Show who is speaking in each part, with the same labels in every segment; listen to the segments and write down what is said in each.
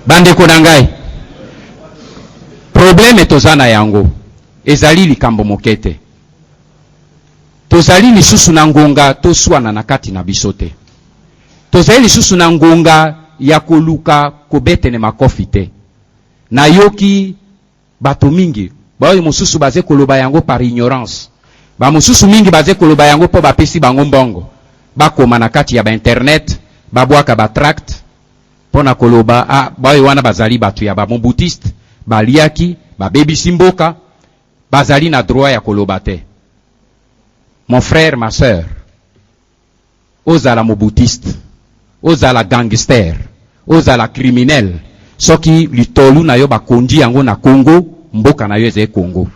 Speaker 1: Bandeko na ngai, probleme toza na yango ezali likambo moke te. Tozali lisusu na ngonga toswana na kati na biso te. Tozali lisusu na ngonga ya koluka kobetene makofi te. Nayoki Bato mingi baoyo mosusu baze koloba yango par ignorance, ba mosusu mingi baze koloba yango po bapesi bango mbongo bakoma na kati ya ba internet babwaka ba tracts po na koloba ah baoyo wana bazali bato ya ba Mobutistes, baliaki, babebisi mboka, bazali na droit ya koloba te. Mon frère, ma sœur. Ozala mobudiste, ozala gangster, ozala criminel, soki litolu na yo bakonji yango na Congo, mboka na yo ezali Congo.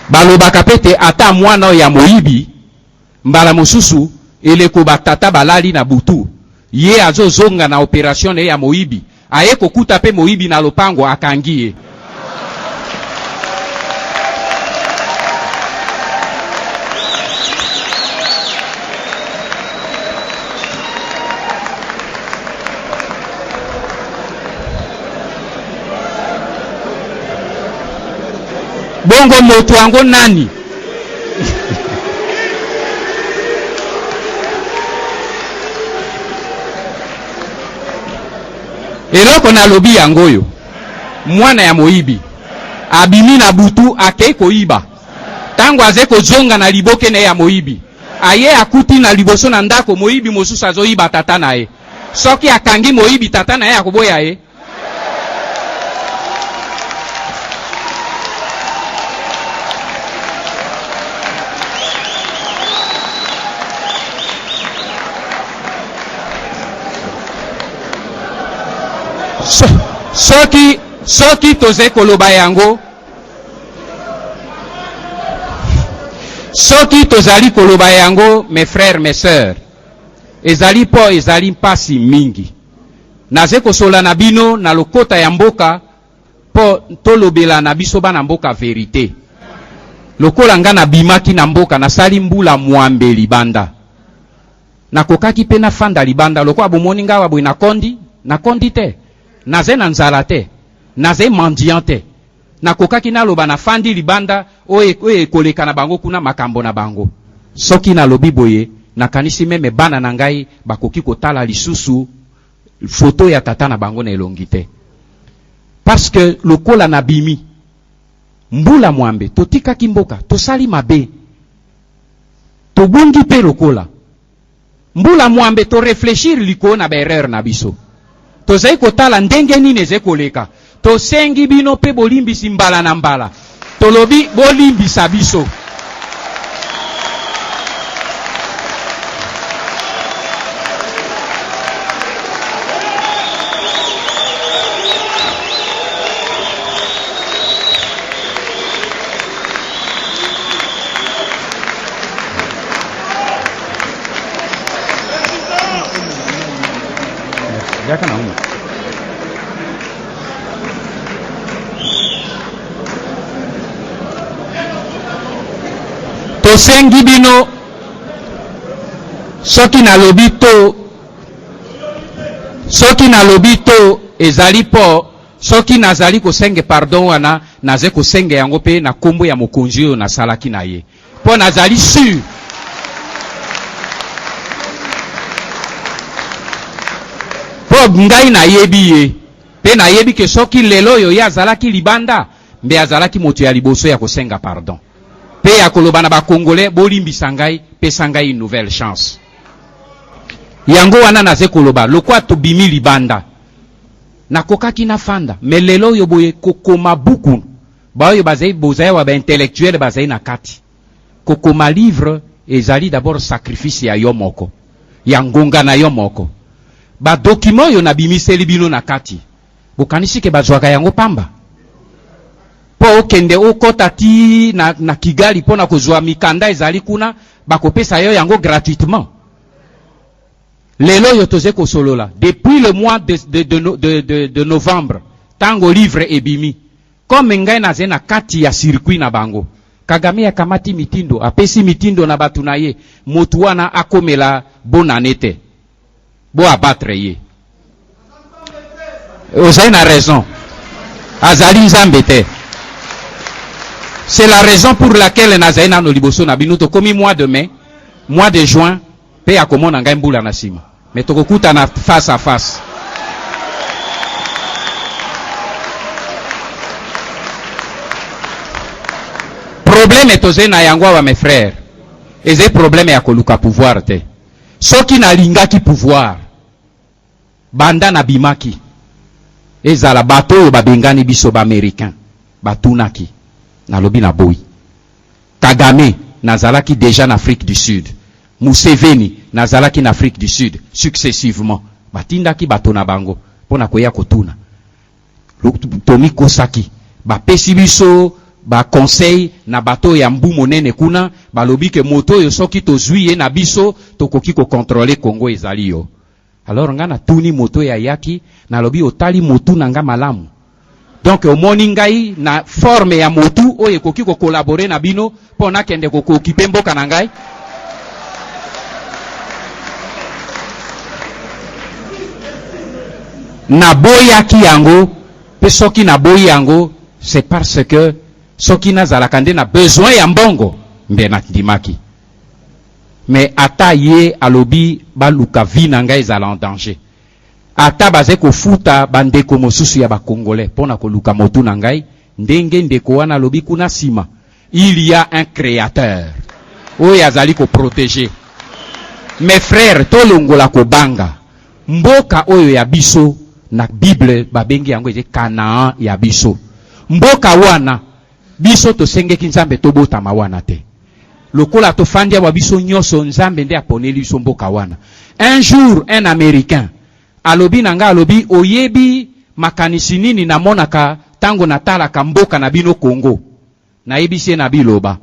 Speaker 1: Balobaka pe te ata mwana oyo ya moyibi, Mbala mosusu eleko ba tata balali na butu, ye azo zonga na operation na ye ya moyibi, aye kokuta pe moyibi na lopango akangi ye. Bongo moto yango nani? eloko nalobi yango oyo mwana ya moyibi abimi na butu akei koyiba ntango azali kozonga na liboke na ye ya moyibi aye akuti na liboso na ndako moyibi mosusu azoyiba tata na ye soki akangi moyibi tata na ye akoboya ye soki soki tozali koloba yango soki tozali koloba yango mes frères mes sœurs ezali mpo ezali mpasi mingi Naze kosola na bino na lokota ya mboka po tolobela na biso bana mboka verite. Lokola nga na bimaki na mboka na sali mbula mwambe libanda. Na kokaki pe na fanda libanda lokola bomoni nga awa boye na kondi, na kondi te. Naze na nzala te. Naze mendiant te. Nakokaki naloba nafandi libanda, oyo, oyo ekoleka na bango kuna, makambo na bango. Soki nalobi boye, nakanisi meme bana na ngai bakoki kotala lisusu foto ya tata na bango na elongi te. Parce que lokola nabimi, mbula mwambe, totikaki mboka, tosali mabe, tobungi pe lokola. Mbula mwambe to reflechir likolo na ba erreurs na biso. Tozali kotala ndenge nini ezali koleka. Tosengi bino mpe bolimbisi mbala na mbala. Tolobi bolimbisa biso. yaka na humu tosengi bino soki nalobi to soki nalobi to ezali mpo soki nazali kosenge pardon wana naza kosenge yango mpe na nkombo ya mokonzi oyo nasalaki na ye Mpo nazali sur. Mpo ngai nayebi ye, mpe nayebi ke soki lelo oyo ye azalaki libanda, mbe azalaki moto ya liboso ya kosenga pardon mpe ya koloba na ba Congolais bolimbisa ngai, pesa ngai une nouvelle chance. Yango wana naze koloba lokwa tobimi libanda, nakokaki nafanda mais lelo oyo boye kokoma buku. baoyo bazali bozaya wa ba intellectuel bazali na kati kokoma livre ezali d'abord sacrifice ya yo moko ya ngonga na yo moko ba document oyo nabimiseli bino na kati bokanisi ke bazwaka yango pamba mpo okende okota ti na, na kigali mpo na kozwa mikanda ezali kuna bakopesa yo yango gratuitement lelo oyo toze kosolola depuis le mois de, de, de, de, de, de novembre ntango livre ebimi Comme ngai nazali na kati ya circuit na bango. Kagame akamati mitindo, apesi mitindo na batu na ye, mutu wana akomela bonne annee te. Bo abattre ye. Ozali na raison. Azali Nzambe te. C'est la raison pour laquelle nazali nano liboso na bino, tokomi mois de mai, mois de juin, pe akomona ngai mbula na sima mais tokokutana face à face. Probleme tozali na yango awa mes frères, ezali probleme ya koluka pouvoir te. Soki nalingaki pouvoir, Banda nabimaki, ezala bato oyo babengani biso ba Americains batunaki, nalobi naboyi. Kagame, nazalaki dejà n'Afrique du Sud. Museveni, nazalaki n'Afrique du Sud. Successivement, batindaki bato na bango mpo na koya kotuna. Tomikosaki. Bapesi biso ba conseils na bato oyo ya Mbu Monene kuna, balobi que moto oyo soki tozui ye na biso, tokoki ko controler Congo. Ezali yo. Alors nga natuni moto oyo ayaki, nalobi otali motu na nga malamu? Donc omoni ngai na forme ya motu oyo ekoki ko collaborer na bino mpo nakende ko occuper mboka na ngai? Naboyaki yango mpe soki naboyi yango c'est parce que soki nazalaka nde na besoin ya mbongo nde nandimaki. mais ata ye alobi baluka vie na nga ezala en danger ata baze kofuta ba ndeko mosusu ya ba congolais pona koluka motu na ngai ndenge ndeko wana alobi kuna sima il ya un createur oyo azali ko proteger mes frères tolongola kobanga mboka oyo ya biso na bible babengi yango ete canaan ya biso mboka wana biso tosengeki nzambe tobotama wana te Lokola tofandi awa biso nyoso nzambe nde aponeli biso mboka wana. Un jour un americain alobi na nga alobi oyebi makanisi nini na monaka tango na talaka mboka na bino Congo? Na yebisi ye na biloba.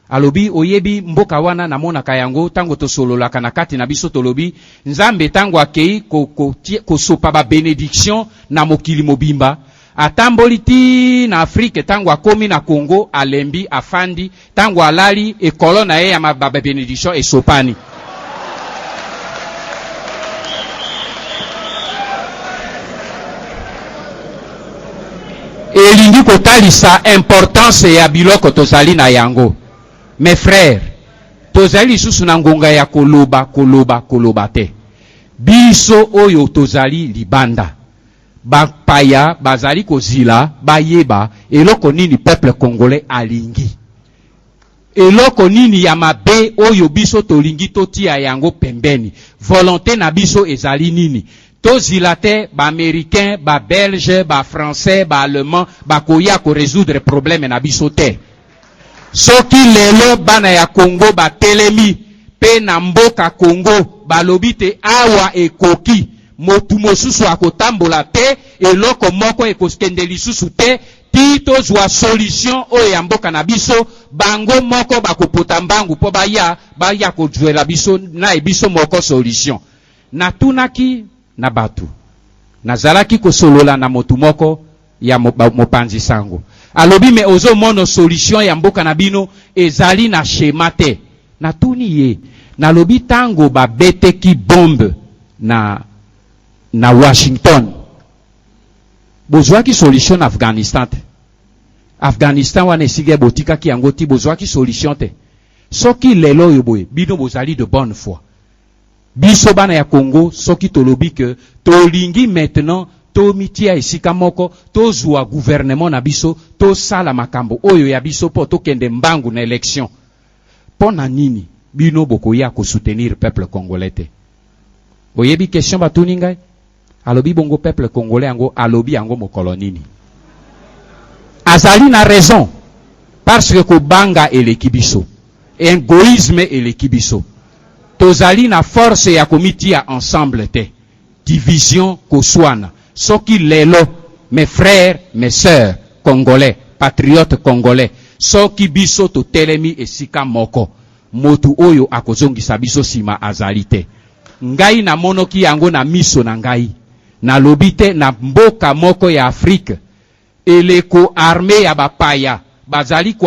Speaker 1: Alobi oyebi mboka wana na monaka yango tango tosololaka na kati na biso tolobi nzambe tango akeyi ko ko kosopa ba benediction na mokili mobimba Atamboli ti na Afrique tango akomi na Congo alembi afandi tango alali ekolo na ye ya ma ba benediction esopani. Elingi kotalisa importance ya biloko tozali na yango. Mes frères, tozali lisusu na ngonga ya koloba koloba koloba te. Biso oyo tozali libanda. Ba paya bazali kozila bayeba eloko nini peuple congolais alingi. Eloko nini ya mabe oyo biso tolingi totia yango pembeni. Volonte na biso ezali nini. Tozila te ba americains, ba belges, ba français, ba allemands bakoya ko resoudre probleme na biso te. Soki lelo bana ya Congo batelemi pe na mboka Congo balobi te awa ekoki, motu mosusu akotambola te, eloko moko ekokende lisusu te ti tozua solution oyo ya mboka na biso, bango moko bakopota mbangu po baya, baya kozuela biso naye biso moko solution. Natunaki na batu, nazalaki kosolola na motu moko, ya mopanzi sango alobi mais ozo mono solution ya mboka na bino ezali na schema te na tuni ye na lobi tango ba bete ki bombe na na Washington bozwa ki solution na Afghanistan te Afghanistan wana esige botika ki yango ti bozwa ki solution te soki lelo yo boye bino bozali de bonne foi Biso bana ya Congo soki tolobi que tolingi maintenant tomitia esika moko, tozua gouvernement na biso, tosala makambo oyo ya biso mpo tokende mbangu na election, mpo na nini bino bokoya ko soutenir peuple congolais te? Oyebi question batuni ngai? Alobi bongo peuple congolais yango alobi yango mokolo nini? Azali na raison parce que kobanga eleki biso. Egoisme eleki biso. Tozali na force ya komitia ensemble te. Division koswana. Soki lelo mes frères, mes sœurs congolais, patriotes congolais soki biso totelemi esika moko motu oyo akozongisa biso sima azali te. Ngai namonoki yango na miso na ngai, nalobi te na mboka moko ya Afrique eleko armee ya bapaya bazali ko